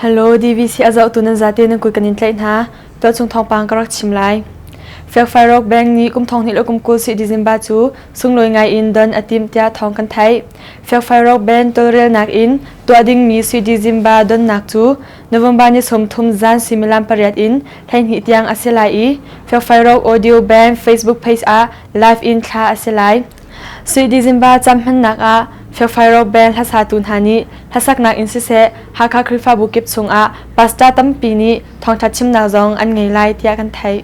Hello, DVC a zohtu nan zate nan kut kan in tlaih hna. Tuah chung thawngpang ka rak chim lai. Fekfairok Bank nih kum thong hnih le kum kul si December cu sunglawi ngai in don a tim tiah thawng kan theih. Fekfairok Bank tawlrelnak in tuah dingmi si December donnak cu November ni sawmthum zan suimilam pariat in hleihnih tiang a si lai i Fiokfairo audio band Facebook page ah live in thla a si lai. Sui December cam hmannak ah Fiokfairo band hlasatu hna nih hlasaknak in siseh Hakha Khrihfabu kip chungah pastor tampi nih thawngṭha chimnak zong an ngei lai tiah kan theih.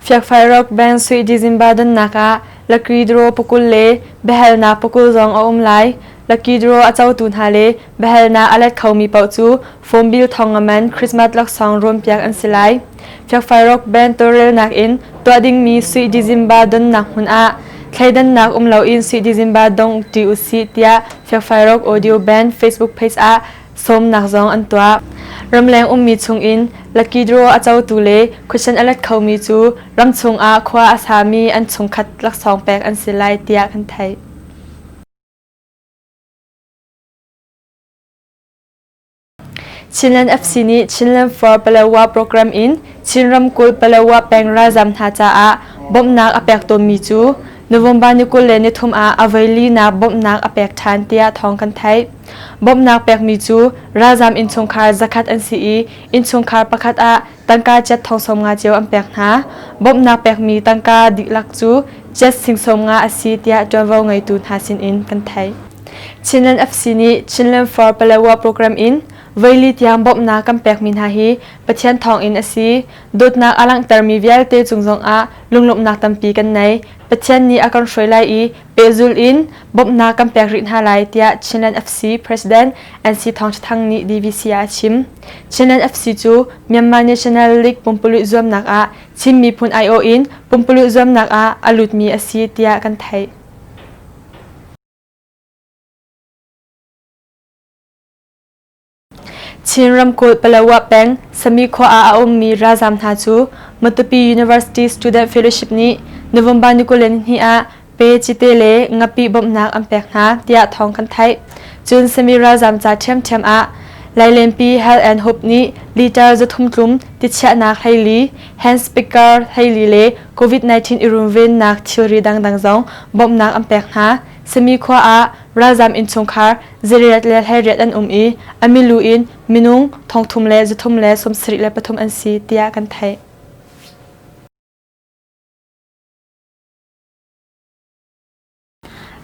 Fiokfairok band Sui December donnak ah Lakridro pakul le biahalnak pakul zong a um lai. Lakidro a cotu hna le Biahalnak a let khomi paoh cu form bill thawng a man Christmas laksawng ruampiak an si lai. Fiakfairok band tawlrelnak in tuah dingmi Sui Dizimba donnak hmun ah thleidannak um loin Sui Dizimba dong ṭi u sih tiah Fiakfairok audio band Facebook page ah sawmnak zong an tuah. Ramleng ummi chungin lucky draw a cotu le question a let khomi cu ramchung ah khua a sami an chungkhat laksawng pek an si lai tiah kan theih. Chinland FC nih Chinland for Palawa program in Chin ramkulh Palawa peng ralzam hna caah bawmhnak a pek tawnmi cu November ni kul le ni thum ah availina bawmhnak a pek ṭhan tiah thawng kan theih. Bawmhnak pekmi cu ralzam innchungkhar zakhat an si i innchungkhar pakhat ah Tangka jet thong sawm nga cio an pek hna. Bawmhnak pekmi tangka dihlak cu jet sing sawm nga a si tiah ṭuanvo ngeitu hna sinin kan theih. Chinland FC nih Chinland for Palawa program in voili tiang bawmhnak kan pekmi hna hi Pathian thawngin a si. Dawtnak a langhtermi vialte cung zongah lunglawmhnak tampi kan nei. Pathian nih a kan hruai lai i pehzulh in bawmhnak kan pek rih hna lai tiah Chinland FC President NC Thawng Ṭha Thang nih DVC ah a chim. Chinland FC cu Myanmar National League pumpululh zuamnak ah Chin miphun aiawh in pumpululh zuamnak ah a lutmi a si tiah kan theih. Chin ramkulh Palawa peng Sami khua ah a ummi ralzaam hna cu Matupi University Student Fellowship nih November ni kul le ni hnih ah pe cite le ngapi bawmhnak an pek hna tiah thawng kan theih. Cun Sami ralzaam ca ṭhiamṭhiam ah Lailenpi Health and Hope nih liter zathum tlum tichiahnak hleili, hand spicker hleili le COVID-19 i runvennak thilri dangdang zong bawmhnak an pek hna. Sami khua ah ralzam innchungkhar zeiriat le hleiriat an um i a milu in minung thongthum le zathum le sawmsarih le pathum an si tiah kan theih.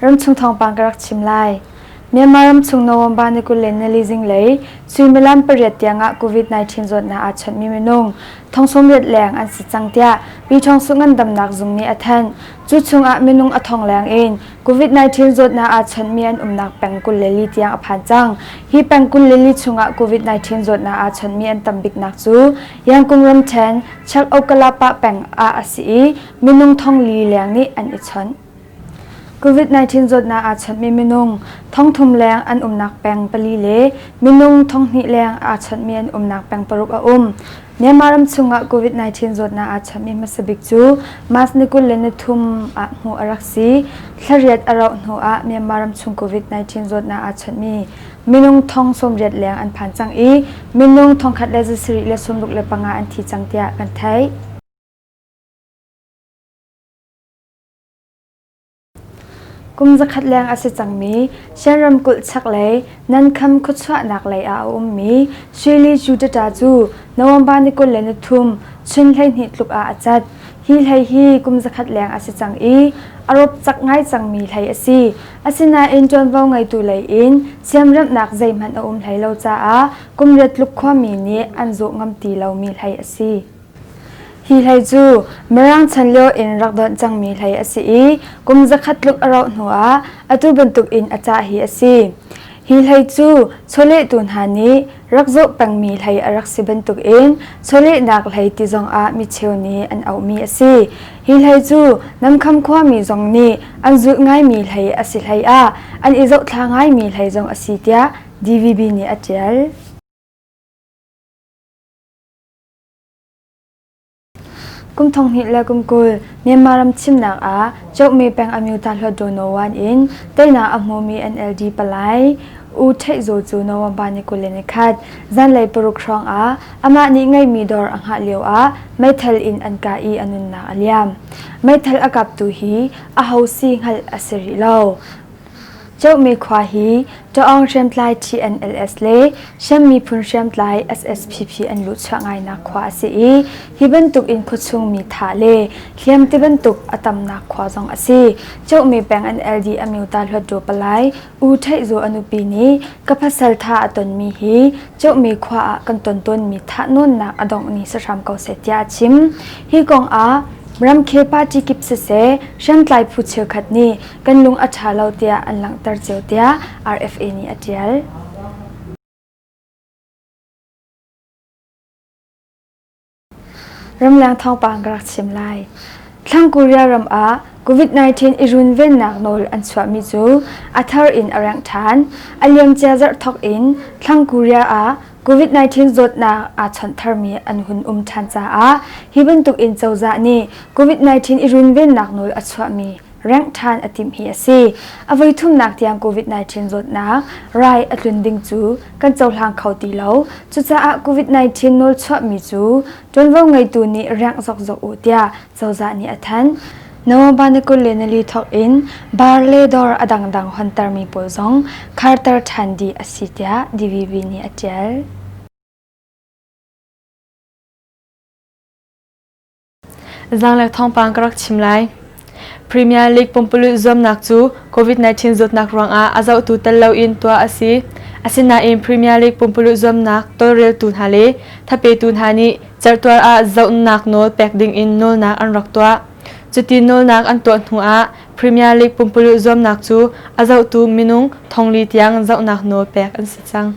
Ramchung thawngpang ka rak chim lai. Myanmar ramchung November ni kul le nali zinglei suimilam pariat tiangah COVID-19 zawtnak aa chawnhmi minung thong sawm riat leng an si cang tiah pi Chong Sung an damnak zung nih a thanh. Cu chungah minung a thong lengin Covid-19 zawtnak aa chanhmi an umnak peng kul le li tiang a phan cang. Hi peng kul le li chungah Covid-19 zawtnak aa chanhmi an tam biknak cu Yangon ramṭhen Chek-Okalapa peng ah a si i minung thong li leng nih an i chawnh. Covid-19 zawtnak aa chanhmi minung thong thum leng an umnak peng pali le minung thong hnih leng aa chanhmi an umnak peng paruk a um. Myanmar ram chungah COVID-19 zawtnak aa chapmi hmasa bik cu March ni kul le ni thum ah hmuh a rak si. Thlariat a rauh hnu ah Myanmar ram chung COVID-19 zawtnak aa chawtmi minung thong sawmriat leng an phan cang i minung thongkhat le zasarih le sawmruk le panga an thi cang tiah kan theih. Kum zakhat leng a si cangmi Shan ramkulh chaklei Nankham khuachuahnak lei ah a ummi Swilly Judata cu November ni kul le ni thum chun hleihnih tluk ah a cat. Hi hlei hi kum zakhat leng a si cang i a rawp cak ngai cangmi hlei a si. Asinain ṭuanvo ngeitu lei in siamremhnak zeihmanh a um hlei lo caah kum riat tluk khuami nih an zawh ngam ti lomi hlei a si. Hi hlei cu Mirang chan lio in rak donh cangmi hlei a si i kum zakhat tluk a rauh hnuah atu bantuk in a cah hi a si. Hi hlei cu chawlehtu hna nih rak zawh pengmi hlei a rak si bantuk in chawlehnak hlei ti zongah micheu nih an auhmi a si. Hi hlei cu Namkham khuami zong nih an zulh ngaimi hlei a si hlei ah an i zohthla ngaimi hlei zong a si tiah DVB nih a ṭial. Kum thonghnih le kum kul Myanmar ram thimnak ah Chokme peng Amyota Hluttaw Nawain in teinak a hmumi NLD palai U Theih Zaw cu Nawampa ni kul in a khat. Zanlei paruk hrawng ah amah nih ngeimi dawr a hngah lio ah meithal in an kah i a nunnak a liam. Meithal a kaptu hi aho si hngalh a si rih lo. Cawhmi khua hi Ṭaawng hriamtlai TNLS le Shan miphun hriamtlai SSPP an luhchuah ngainak khua a si i hi bantuk in khuachungmi tha le hliam ti bantuk a tamnak khua zong a si. Cawhmi peng an LD Amyota Hluatdaw Palai U Theih Zaw Anupi nih ka pasal tha a tonmi hi Cawhmi khua ah kan ton tawnmi thah nawnnak a dongh ni sahram ko seh tiah a chim. Hi kong ah Ramkhel Party kip siseh, hriamtlai phu cheukhat nih kan lung a ṭha lo tiah an langhter cio tiah RFA nih a ṭial. Ramleng thawngpang ka rak chim lai. Thlang Korea ram ah COVID-19 i runvennak nawl an chuahmi cu a thar in a rengh ṭhan. A liamcia zarh thawk in Thlang Korea ah COVID-19 zawtnak aa chawnh tharmi an hun um ṭhan caah hi bantuk in cozah nih COVID-19 i runvennak nawl a chuahmi rank ṭhan a timh hi a si. A voi thumnak tiang COVID-19 zawtnak rai a tlun ding cu kan cohlang kho ti lo. Cucaah COVID-19 nawl chuahmi cu ṭuanvo ngeitu nih rank zokzok u tiah cozah nih a thanh. Nawaba ni kul le nali thawk in bar le dawr a dangdang hontermi pawl zong kharter ṭhan dih a si tiah DVB nih a ṭial. Zaanglek thawngpang ka rak chim lai. Premier League pumpululh zuamnak cu COVID-19 zawtnak ruangah a zohtu tel loin tuah a si. Asinain Premier League pumpululh zuamnak tawlreltu hna le thapetu hna nih cerhtuar ah zohnak nawl pek dingin nawlnak an rak tuah. Cuti nawlnak an tuah hnuah Premier League pumpululh zuamnak cu a zohtu minung thongli tiang zohnak nawl pek an si cang.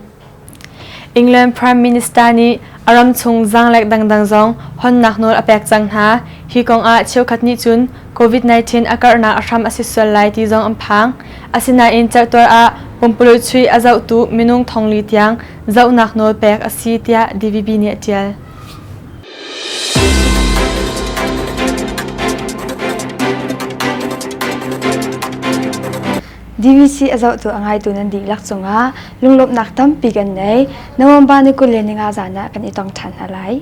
England Prime Minister nih a ram chung zaanglek dangdang zong honnak nawl a pek cang hna. Hi kong ah cheukhat nih cun COVID-19 a karhnak a hram a si sual lai ti zong an phang. Asinain cerhtuar ah pumpululh chuih a zohtu minung thongli tiang zohnak nawl pek a si tiah DVB nih a ṭial. DVC a zohtu a ngaitu nan dihlak cungah lunglawmhnak tampi kan nei. November ni kul le ninga zan ah kan i tong ṭhan hna lai.